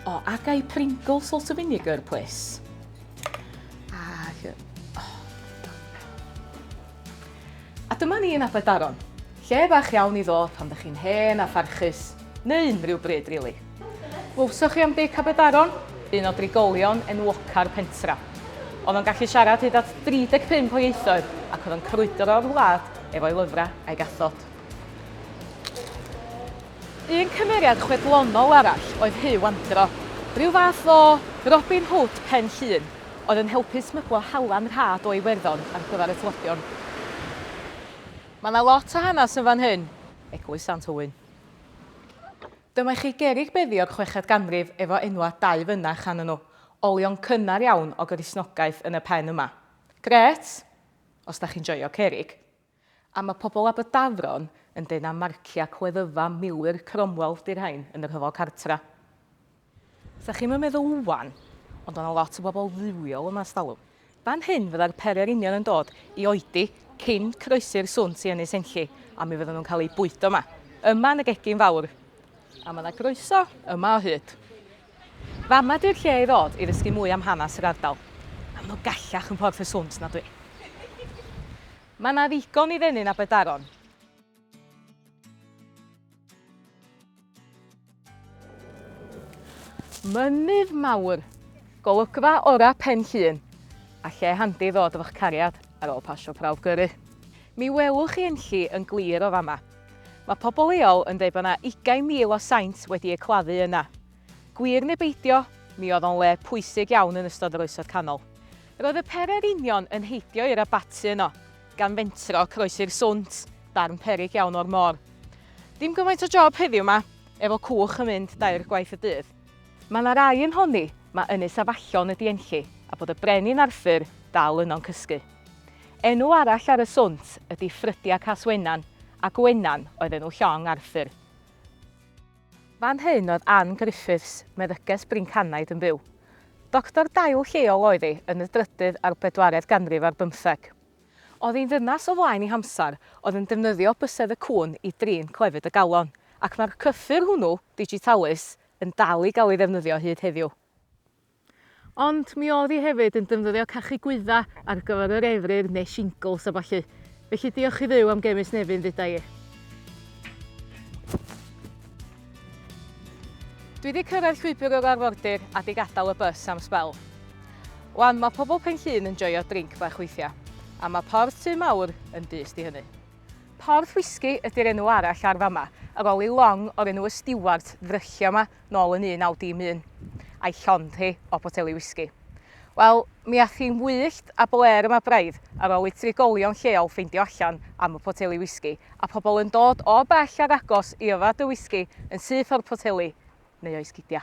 O, a gai Pringle salt of vinegar, pwys? Ac... Oh. A dyma ni yn Abadaron. Lle bach iawn i ddod pan ddech chi'n hen a pharchus, neu unrhyw bryd, rili. Really. Glywsoch chi am Dic Aberdaron? Un o drigolion enwoca'r pentra. Oedd o'n gallu siarad hyd at 35 o ieithoedd ac oedd o'n crwydro o'r wlad efo'i lyfrau a'i gathod. Un cymeriad chwedlonol arall oedd Huw Andro, rhyw fath o Robin Hood Pen Llŷn, oedd yn helpu smyglo halan rhad o Iwerddon ar gyfer y tlodion. Mae 'na lot o hanes yn fan hyn. Eglwys Sant Owen. Dyma i chi gerrig beddi o'r chweched ganrif efo enwau dau fynach arnyn nhw. Olion cynnar iawn o Gristnogaeth yn y pen yma. Grêt, os da chi'n joio cerrig. A mae pobl Aberdafron yn deud na marciau cleddyfa milwyr Cromwell di'r rhain yn y rhyfel cartra. Sa chi'm yn meddwl ŵan, ond o' 'na lot o bobl fywiol yma 'stalwm. Fan hyn fyddai'r pere'r union yn dod i oedi cyn croesi'r swnt i Ynys Enlli, a mi fyddan nhw'n cael eu bwydo yma. Yma yn y gegin fawr. A mae yna groeso yma o hyd. Fama ydy'r lle i ddod i ddysgu mwy am hanes yr ardal. Maen nhw gallach yn Porth y Swnt na dwi. Mae yna ddigon i ddenu'n Aberdaron. Mynydd mawr, golygfa ora Pen Llŷn, a lle handi ddod efo'ch cariad ar ôl pasio prawf gyrru. Mi welwch chi Enlli yn glir o fama. Mae pobl leol yn dweud bod yna 20,000 o saint wedi eu claddu yna. Gwir neu beidio, mi oedd o'n le pwysig iawn yn ystod yr Oesoedd Canol. Roedd y pererinion yn heidio i'r abaty yno. gan fentro croesi'r swnt, darn peryg iawn o'r môr. Dim gymaint o job heddiw 'ma, efo cwch yn mynd dair gwaith y dydd. Mae 'na rai yn honni ma' Ynys Afallon ydi Enlli a bod y Brenin Arthur dal yno'n cysgu. Enw arall ar y swnt ydi Ffrydia Cas Wenan a Gwenan oedd enw llong Arthur. Fan hyn oedd Ann Griffiths, meddyges Bryncanaid, yn byw. Doctor dail lleol oedd hi yn y drydydd a'r bedwaredd ganrif ar bymtheg. Oedd hi'n ddynas o flaen ei hamser, oedd yn defnyddio bysedd y cŵn i drin clefyd y galon, ac mae'r cyffur hwnnw, digitalus, yn dal i gael ei ddefnyddio hyd heddiw. Ond mi oedd hi hefyd yn defnyddio cachu gwydda ar gyfer yr efryr neu shingles a ballu. Felly diolch i Dduw am gemis Nefyn dduda i. Dwi 'di cyrraedd llwybr yr arfordir a 'di gadael y bws am sbel. Wan mae pobl Penllyn yn joio drinc bach weithiau, a mae Porth Tŷ Mawr yn dyst i hynny. Porth Whisky ydy'r enw arall ar fama, ar ol i long o'r enw y Stiwart ddryllio 'ma. nôl yn 1911, a'i llond hi o boteli wisgi. Wel, mi ath hi'n wyllt a blêr yma braidd ar ôl i trigolion lleol ffeindio allan am y poteli wisgi, a phobl yn dod o bell ar agos i yfed y wisgi yn syth o'r poteli, neu o'i sgidia.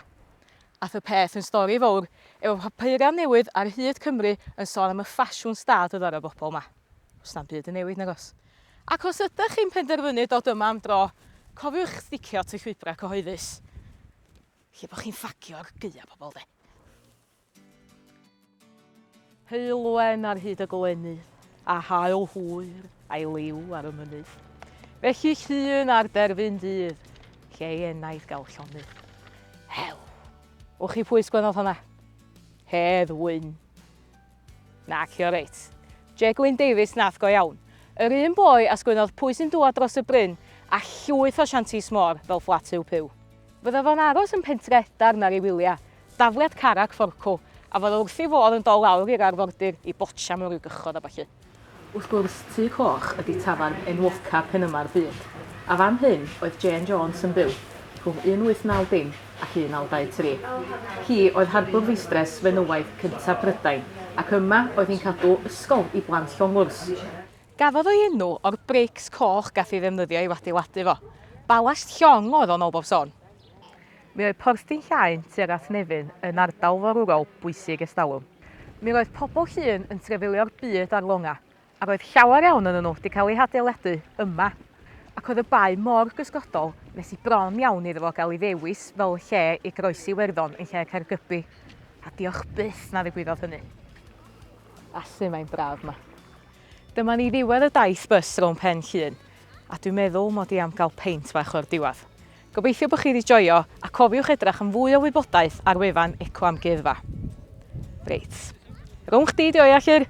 Ath y peth yn stori fowr, efo papura newydd ar hyd Cymru yn sôn am y ffasiwn stad oedd ar y bobl 'ma. Does na'm byd yn newid nag oes? Ac os ydych chi'n penderfynu dod yma am dro, cofiwch sticio at y llwybrau cyhoeddus. Lle bod chi'n ffagio ar gaeau pobl de. Heulwen ar hyd y glennydd, a hael hwyr a'i liw ar y mynydd. Felly llun ar derfyn dydd, lle ei enaid gael llonydd. Hew! Wch chi pwys gwenodd hwnna? Hedd wyn! Naci oreit. Je Gwyn Davies nath go iawn. Yr un boi a sgwennodd Pwy sy'n dŵad dros y bryn? a llwyth o shanties mor fel Fflat Huw Puw. Fydda fo'n aros yn Pentre Edarn ar ei wylia, dafliad Carac Forcw, a fydda wrth ei fodd yn dol lawr i'r arfordir i botsian o'r Rhygychod a ballu. Wrth gwrs, Tŷ Coch ydi tafarn enwoca Penymar byd, a fan hyn oedd Jane Jones yn byw rhwng 1890 ac 1923. Hi oedd harbwr feistres fenywaidd cyntaf Prydain, ac yma oedd hi'n cadw ysgol i blant llong wrs. Gafodd o'i enw o'r brics coch gath ei ddefnyddio i'w adeiladu fo. Balast llong oedd o yn ol bob sôn. Mi oedd Porthdin Llaen tuag at Nefyn yn ardal forwrol bwysig ers talwm. Mi roedd pobl Llŷn yn trefilio'r byd ar longau, a roedd llawer iawn onyn nhw wedi cael eu hadeiladu yma, ac oedd y bae mor gysgodol nes i bron iawn iddo fo gael ei ddewis fel lle i groesi Iwerddon yn lle Caergybi, a diolch byth na ddigwyddodd hynny. Felly mae'n braf 'ma. Dyma ni ddiwedd y daith bys rownd Pen Llŷn, a dwi'n meddwl mod i am gael peint bach o'r diwedd. Gobeithio bod chi wedi joio a cofiwch edrach am fwy o wybodaeth ar wefan Eco Amgueddfa. Reit. Rhwng chdi di o ia Llyr?